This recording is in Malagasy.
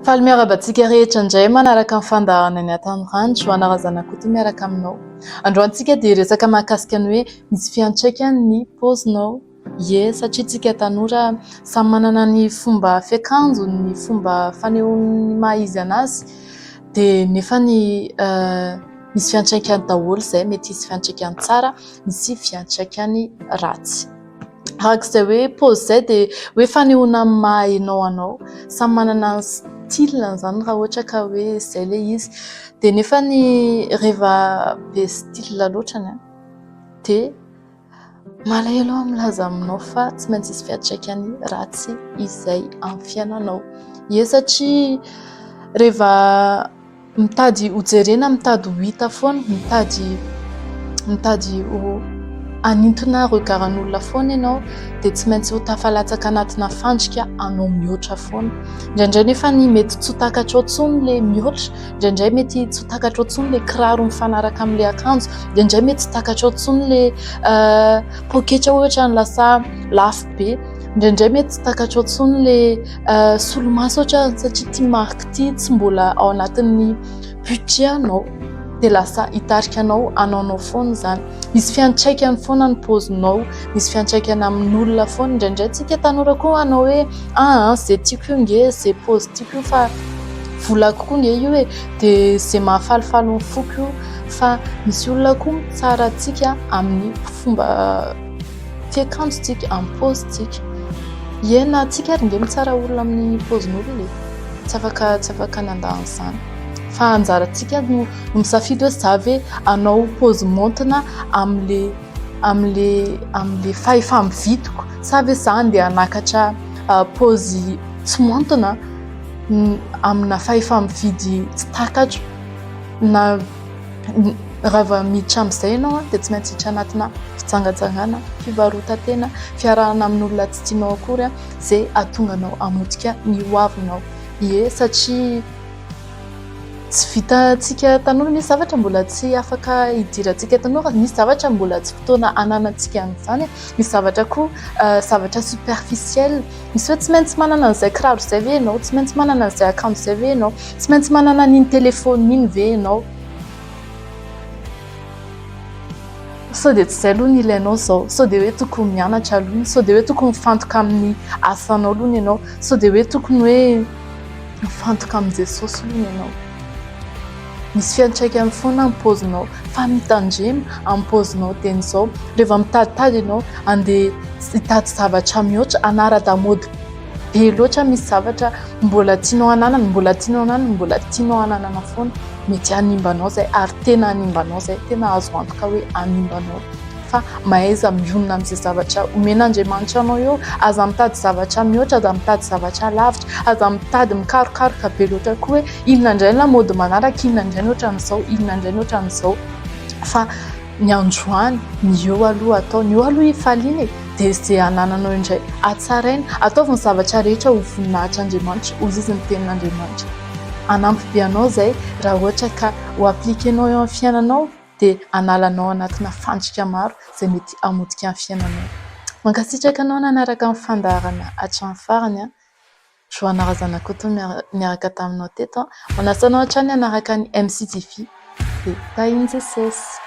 Faly miarahaba antsika rehetra indray manaraka ny fandahana ny Antanirano, Joana Razanakoto miaraka aminao. Androantsika dia hiresaka mahakasika ny hoe misy fiantraikany ny paozinao, ie satria isika tanora samy manana ny fomba fiakanjony, ny fomba fanehoany ny maha izy anazy dia nefa ny misy fiantraikany daholo izay, mety hisy fiantraikany tsara, misy fiantraikany ratsy. araka izay hoe pause izay dia hoe fanehoana ny maha hainao anao, samy manana ny style-ny izany raha ohatra ka hoe izay ilay izy dia nefa ny rehefa be style loatra ny ahy dia malahelo aho milaza aminao fa tsy maintsy hisy fiantraikany ratsy izay amin'ny fiainanao, ie satria rehefa Mitady ho jerena, mitady ho hita foana, mitady mitady ho hanintona regard an'olona foana ianao dia tsy maintsy ho tafalatsaka anatina fandrika anao mihoatra foana. Indraindray nefa ny mety tsy ho takatrao intsony ilay mihoatra, indraindray mety tsy ho takatrao intsony ilay kiraro mifanaraka amin'ilay akanjo, indraindray mety tsy takatrao intsony ilay poketra ohatra ny lasa lafo be, indraindray mety tsy takatrao intsony ilay solomaso ohatra satria ity marika ity tsy mbola ao anatin'ny budget anao dia lasa hitarika anao hanaonao foana izany. Misy fiantraikany foana ny paozinao, misy fiantraikany amin'olona foana. Indraindray tsika tanora koa hanao hoe aa izay tiako io nge izay paozy tiako io fa volako koa nge io e dia izay mahafalifaly ny foko io fa misy olona koa mitsara antsika amin'ny fomba Fiakanjotsika, amin'ny paozitsika. Ie na tsika ary nge mitsara olona amin'ny paozin'olona e. Tsy afaka tsy afaka nandà an'izany. Fa anjarantsika no no misafidy hoe za ve hanao paozy maontina amin'le amin'le amin'le fahefa-mividiko sa ve za andeha hanakatra paozy tsy maontina amina fahefa-mividy tsy takatro na. Raha vao miditra amin'izay ianao dia tsy maintsy hiditra anatina fijangajangana, fivarotan-tena, fiarahana amin'olona tsy tianao akory izay hahatonga anao hamotika ny ho avinao. Ie, satria tsy vitantsika tanora, misy zavatra mbola tsy afaka hidirantsika tanora, misy zavatra mbola tsy fotoana hananantsika an'izany, misy zavatra koa zavatra superficiel. Miseho tsy maintsy manana an'izay kiraro izay ve ianao? Tsy maintsy manana an'izay akanjo izay ve ianao? Tsy maintsy manana an'iny telefaonina iny ve ianao? Sao dia tsy izay aloha ny ilainao izao? Sao dia hoe tokony mianatra aloha ny? Sao dia hoe tokony mifantoka amin'ny asanao aloha ny ianao? Sao dia hoe tokony hoe mifantoka amin'i Jesosy aloha ny ianao? Misy fiantraikany foana ny paozinao. Fa mitandrema amin'ny paozinao tena izao. Rehefa mitaditady ianao, andeha hitady zavatra mihoatra, hanara-damaody be loatra misy zavatra mbola tianao hananana, mbola tianao hananana, mbola tianao hananana foana. Mety hanimba anao izay, ary tena hanimba anao izay. Tena azo antoka hoe hanimba anao. fa mahaiza mionona amin'izay zavatra omen'Andriamanitra anao eo, aza mitady zavatra mihoatra, aza mitady zavatra lavitra, aza mitady mikarokaroka be loatra koa hoe inona indray ny lamaody manaraka, inona indray ny ohatran'izao, inona indray ny ohatran'izao fa ny androany, ny eo aloha atao, ny eo aloha hifaliana e! dia izay anananao indray hatsaraina, ataovy ny zavatra rehetra ho voninahitr'Andriamanitra, hoy izy ny tenin'Andriamanitra, hanampy be anao izay raha ohatra ka ho appliquer-nao eo amin'ny fiainanao. dia hanala anao anatina fandrika maro izay mety hamotika ny fiainanao. Mankasitraka anao nanaraka ny fandaharana hatramin'ny farany an! Johanna Razanakoto no niaraka taminao teto. Manasa anao hatrany hanaraka ny MCJV. Dia tahin'i Jesosy.